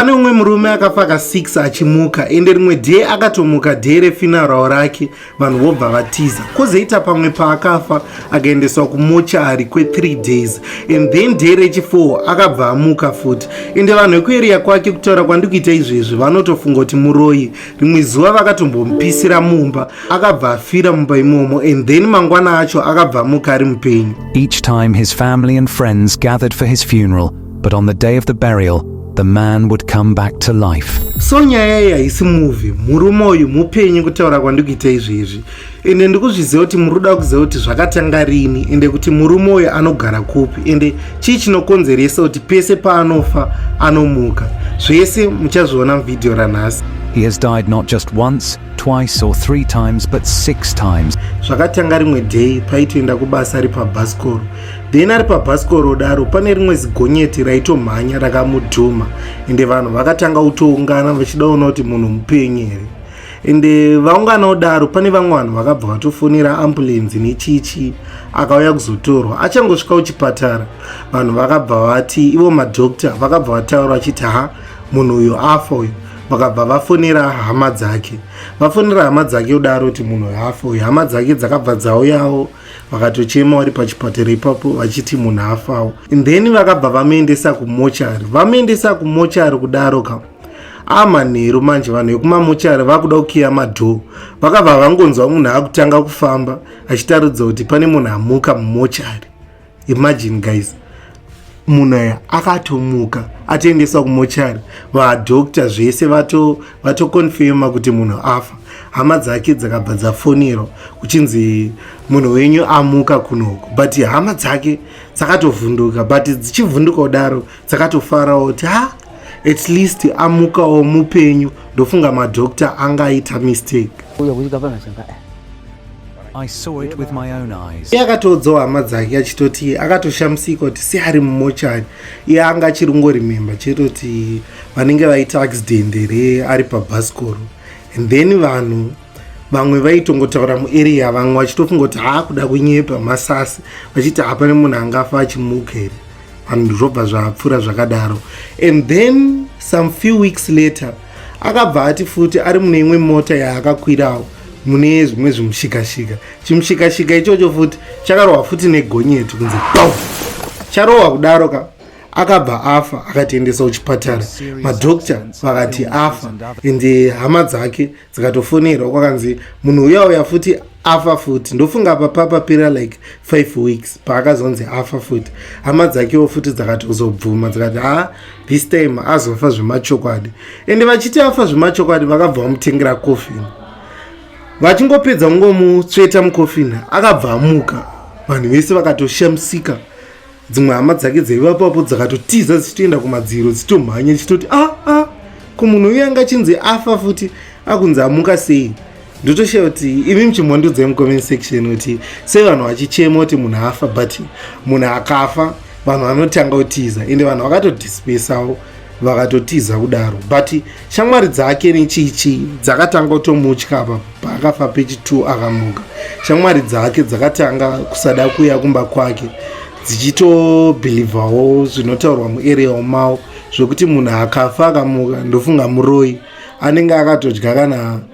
pane umwe murume akafa ka 6 achimuka ende rimwe dee akatomuka dee refinarao rake vanhu vobva vatiza kozoita pamwe paakafa akaendeswa kumochari kwe3 days and then dee rechi4 akabva amuka futi ende vanhu vekueriya kwake kutaura kwandikuita izvezvi vanotofunga kuti muroyi rimwe zuva vakatombomupisira mumba akabva afira mumba imomo and then mangwana acho akabva amuka ari mupenyu each time his family and friends gathered for his funeral but on the day of the burial, the man would come back to life. So nyaya iyi haisi movie, murume uyu mupenyu kutaura kwandikuita izvi izvi. Ende ndikuzviziva kuti muri kuda kuziva kuti zvakatanga rini ende kuti murume uyu anogara kupi ende chii chinokonzeresa kuti pese paanofa anomuka. Zvese muchazviona muvhidhiyo ranhasi. He has died not just once, twice or three times but six times. Zvakatanga rimwe day paitoenda kubasa ari pabhasikoro. then ari pabhasikoro kudaro pane rimwe zigonyeti raitomhanya rakamudhuma ende vanhu vakatanga kutoungana vachida kuona kuti munhu mupenyu here ende vaungana kudaro pane vamwe vanhu vakabva vatofonera ambulenzi nechichi akauya kuzotorwa achangosvika kuchipatara vanhu vakabva vati ivo madokta vakabva vataura vachiti ha munhu uyu afa uyu vakabva vafonera hama dzake vafonera hama dzake kudaro kuti munhu uyu afa uyu hama dzake dzakabva dzauyawo vakatochema vari pachipatara ipapo vachiti munhu afawo then vakabva vamuendesa kumochari vamuendesa kumochari kudaro ka amanheru manje vanhu vekumamochari vakuda kukiya madhoo vakabva vangonzwa munhu akutanga kufamba achitaridza kuti pane munhu amuka mumochari imagine guys munhu aya akatomuka atoendeswa kumochari vadokta zvese vatokonfema vato kuti munhu afa hama dzake dzakabva dzafonero kuchinzi munhu wenyu amuka kunoko but hama dzake dzakatovhunduka but dzichivhunduka kudaro dzakatofarawo kuti ha at least amukawo mupenyu ndofunga madokta angaita mistake I saw it with my own eyes. Iye akatoudzawo hama dzake achitoti akatoshamisika kuti se ari mumochari iye anga achiri kungorememba chete kuti vanenge vaita accident here ari pabhasikoro and then vanhu vamwe vaitongotaura muarea vamwe vachitofunga kuti haakuda kunyepa masasi vachiti hapane munhu angafa achimuka here vanhu zvobva zvapfuura zvakadaro and then some few weeks later akabva ati futi ari mune imwe mota yaakakwirawo mune zvimwe zvimushikashika chimushikashika ichocho futi chakarohwa futi negonyeti kunzi dom charohwa kudaro ka akabva afa akatiendesa kuchipatara madokta vakati afa ende hama dzake dzikatofonerwa kwakanzi munhu uya uya futi afa futi ndofunga apa papapera like five weeks paakazonzi afa futi hama dzakewo futi dzakatozobvuma dzikati haa this time azofa zvemachokwadi ende vachiti afa zvemachokwadi vakabva vamutengera coffin vachingopedza kungomutsveta mucoffin akabva amuka vanhu vese vakatoshamisika dzimwe hama dzake dzaivapapo dzakatotiza dzichitoenda kumadziro dzichitomhanya dzichitoti aa ah, ah, ko munhu uyo anga achinzi afa futi akunzi amuka sei ndotoshiya kuti imi muchimhondudza mucomment section kuti sei vanhu vachichema kuti munhu afa but munhu akafa vanhu vanotanga kutiza ende vanhu vakatodispesawo vakatotiza kudaro but shamwari dzake nechichi dzakatanga kutomutya apa paakafa pechi t akamuka shamwari dzake dzakatanga kusada kuya kumba kwake dzichitobhilivhawo zvinotaurwa muarea umawo zvekuti munhu akafa akamuka ndofunga muroi anenge akatodya kana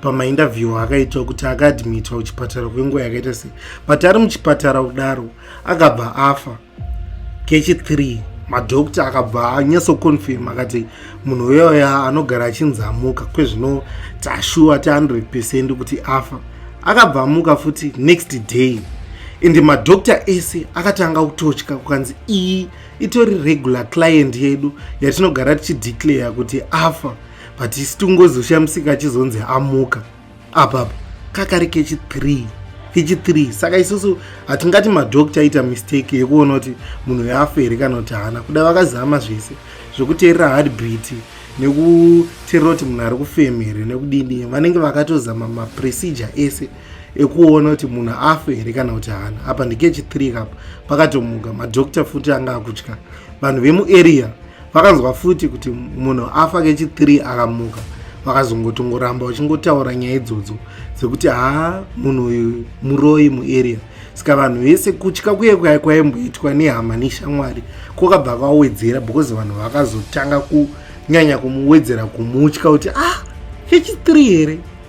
pamaindavhiwa akaitwa kuti akaadmitwa kuchipatara kwenguva yakaita sei but ari muchipatara kudaro akabva afa kechi 3 madokta akabva anyasoconfirm akati munhu uyoya anogara achinzamuka kwezvino tashuwa ti 100 percent kuti afa akabva amuka futi next day ende madokta ese akatanga kutotya kukanzi iyi itori regular client yedu yatinogara tichideclare kuti afa but isu tingozoshamisika achizonzi amuka apapa kakari kechi 3 kechi 3 saka isusu hatingati madoctor aita mistake yekuona kuti munhu yafa here kana kuti haana kuda vakazama zvese zvekuteerera hardbeat nekuteerera kuti munhu ari kufema here nekudini vanenge vakatozama maprocedure ese ekuona kuti munhu afe here kana kuti haana apa ndikechi 3 kapa pakatomuka madoctor futi anga akutya vanhu vemuarea vakanzwa futi kuti munhu afa kechi 3 akamuka vakazongotongoramba vachingotaura nyaya idzodzo dzekuti haa munhu uyu muroyi muarea saka vanhu vese kutya kuye kwaye kwaimboitwa nehama neshamwari kwakabva kwawedzera because vanhu vakazotanga kunyanya kumuwedzera kumutya kuti ah kechi 3 here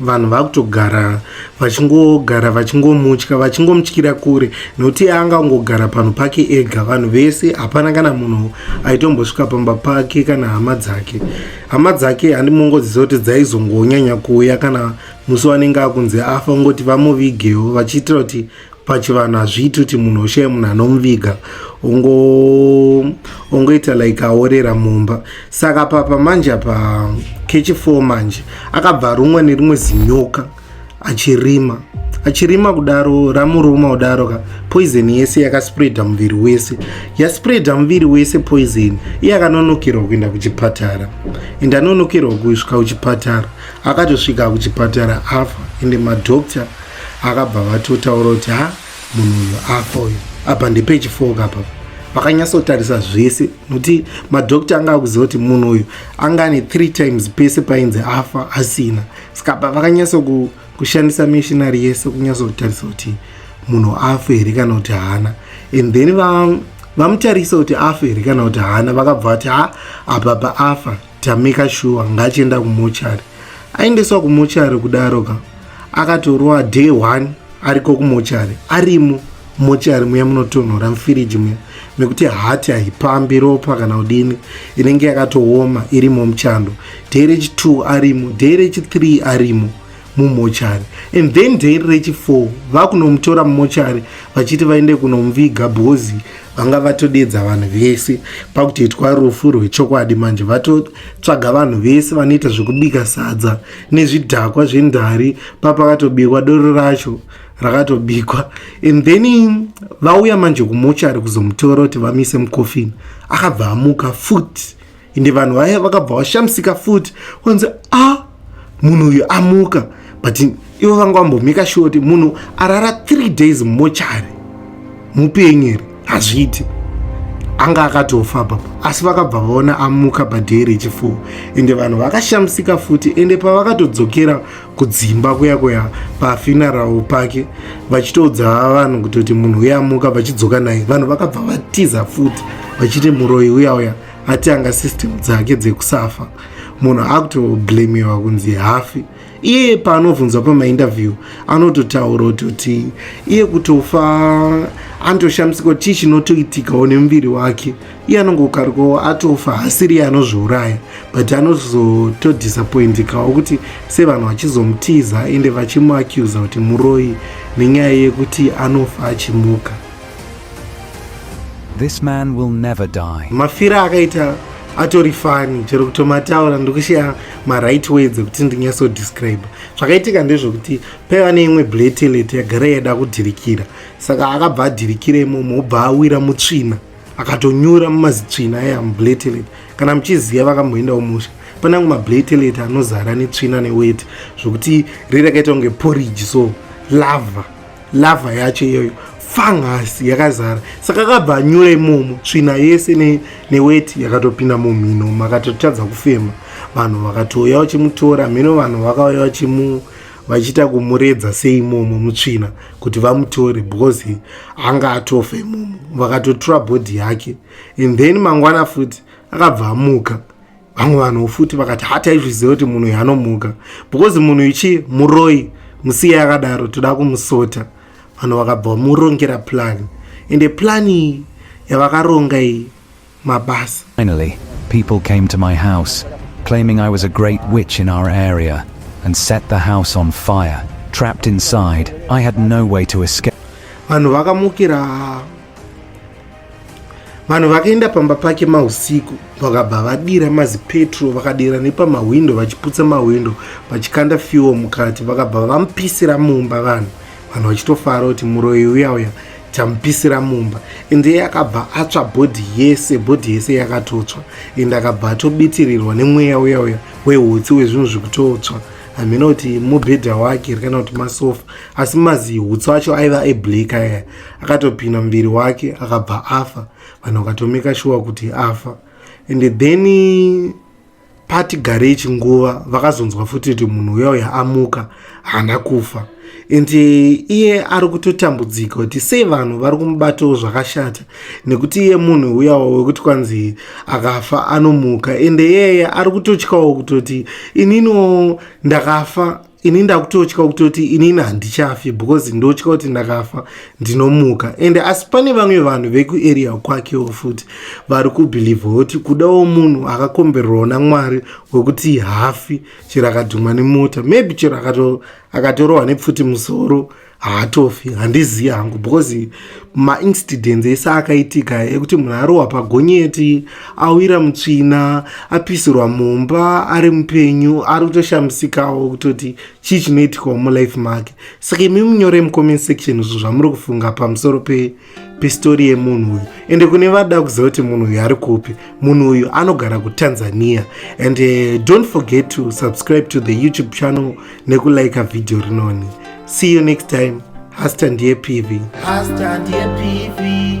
vanhu vakutogara vachingogara vachingomutya vachingomutyira kure nokuti anga ungogara panhu pake ega vanhu vese hapana kana munhu aitombosvika pamba pake kana hama dzake hama dzake handimongoziva kuti dzaizongonyanya kuuya kana musi wanenge akunzi afa ungoti vamuvigewo vachiitira kuti pachivanhu hazviiti kuti munhu oshaya munhu anomuviga ongoita like aorera mumba saka papa manje apa kechi four manje akabva arumwa nerimwe zinyoka achirima achirima kudaro ramuruma kudaro ka poison yese yakaspreada muviri wese yaspreada muviri wese poison iye akanonokerwa kuenda kuchipatara ende anonokerwa kusvika kuchipatara akatosvika kuchipatara afa ende madoctor akabva vatotaura kuti ha munhu uyu afa uyu apa ndepage four kapa vakanyatsotarisa zvese nokuti madokta anga akuziva kuti munhu uyu anga ane three times pese painzi afa asina saka apa vakanyatsokushandisa missionary yese kunyatsotarisa kuti munhu afa here kana kuti haana and then vamutarisa kuti afa here kana kuti haana vakabva vati ha apapa afa Tamika shuwa ngachienda kumochari. Aendeswa kumochari kudaro ka. Akatorowa day one ariko kumochari. Arimo mochari muya munotonhora mufiriji muya mekuti hati haipambi ropa kana kudini inenge yakatooma irimo muchando. Day rechi two arimo, day rechi three arimo. mumochari and then day rechi4 vakunomutora mumochari vachiti vaende kunomuviga bhozi vanga vatodedza vanhu vese pakutoitwa rufu rwechokwadi manje vatotsvaga vanhu vese vanoita zvekubika sadza nezvidhakwa zvendari papakatobikwa doro racho rakatobikwa and then vauya manje kumochari kuzomutora kuti vamise mukofini akabva amuka futi ende vanhu vaye vakabva vashamisika futi kwanzi a ah, munhu uyu amuka but ivo vanga vambomheka shuwa kuti munhu arara three days mumochari mupenyu here hazviiti anga akatofa papa asi vakabva vaona amuka padhee rechifuwo ende vanhu vakashamisika futi ende pavakatodzokera kudzimba kuya kuya pafinarao pake vachitoudza vanhu kutoti munhu uye amuka vachidzoka naye vanhu vakabva vatiza futi vachiti muroyi uya uya ati anga system dzake dzekusafa munhu akutoblamiwa kunzi hafi iye paanobvunzwa pamainterview anototaura kutoti iye kutofa anotoshamisika chii chinotoitikawo nemuviri wake iye anongokarikawo atofa hasiri iye anozviuraya but anozotodisappointikawo kuti sevanhu vachizomutiza ende vachimuacuza kuti muroyi nenyaya yekuti anofa achimuka This man will never die. Mafira akaita atori fani chero kutomataura ndokushaya maright words ekuti ndinyaso describe zvakaitika ndezvekuti paiva neimwe bletelet yagara yaida kudhirikira saka akabva adhirikira imomo obva awira mutsvina akatonyura mumazitsvina aya mubletelet kana muchiziva vakamboendawo musha panangu mabletelet anozara netsvina neweti zvekuti riri akaita kunge porridge so lava lava yacho iyoyo fungus yakazara saka akabva anyura imomo tsvina yese ne, neweti yakatopinda mumhino makatotadza kufema vanhu vakatouya vachimutora mhino vanhu vakauya vachimu vachiita kumuredza seimomo mutsvina kuti vamutore because anga atofa imomo vakatotura bhodhi yake and then mangwana futi akabva amuka vamwe vanhu futi vakati hataizviziva kuti munhu uyu anomuka because munhu ichi muroi musiya yakadaro toda kumusota vanhu vakabva vamurongera plani ende plani iyi yavakaronga iyi mabasa Finally, people came to my house claiming I was a great witch in our area and set the house on fire trapped inside I had no way to escape vanhu vakamukira vanhu vakaenda pamba pake mausiku vakabva vadira mazipetro vakadira nepamahwindo vachiputsa mahwindo vachikanda fiwo mukati vakabva vamupisira mumba vanhu vanhu vachitofara kuti muroyi uya uya tamupisira mumba ende iye akabva atsva bhodhi yese bhodhi yese yakatotswa ende akabva atobitirirwa nemweya uya uya wehutsi wezvinhu zvikutotswa hamina kuti mubhedha wake kana kuti masofa asi mazi hutsi wacho aiva eblack aya akatopina muviri wake akabva afa vanhu vakatomeka shuwa kuti afa and then pati garei chinguva vakazonzwa futi kuti munhu uya uya amuka haana kufa and iye ari kutotambudzika kuti sei vanhu vari kumubatawo zvakashata nekuti iye munhu uyawo wekuti kwanzi akafa anomuka and iyeye ari kutotyawo kutoti inino ndakafa ini ndakutotya kutoti inini handichafi because ndotya kuti ndakafa ndinomuka ende asi pane vamwe vanhu vekuarea kwakewo futi vari kubhilivha kuti kudawo munhu akakomberwawo namwari wekuti hafi chero akadhumwa nemota maybe chero akatorohwa nepfuti musoro haatofi handizivi hangu because maincidents ese akaitika ekuti munhu arohwa pagonyeti awira mutsvina apisirwa mumba ari mupenyu ari kutoshamisikawo kutoti chii chinoitikawo mulife make saka imi munyore mucomment section izvo zvamuri kufunga pamusoro pe pistori yemunhu uyu ende kune vada kuziva kuti munhu uyu ari kupi munhu uyu anogara kutanzania and uh, don't forget to subscribe to the youtube channel nekulika vhidhiyo rinoni see you next time hasta ndiye pivi hasta ndiye pivi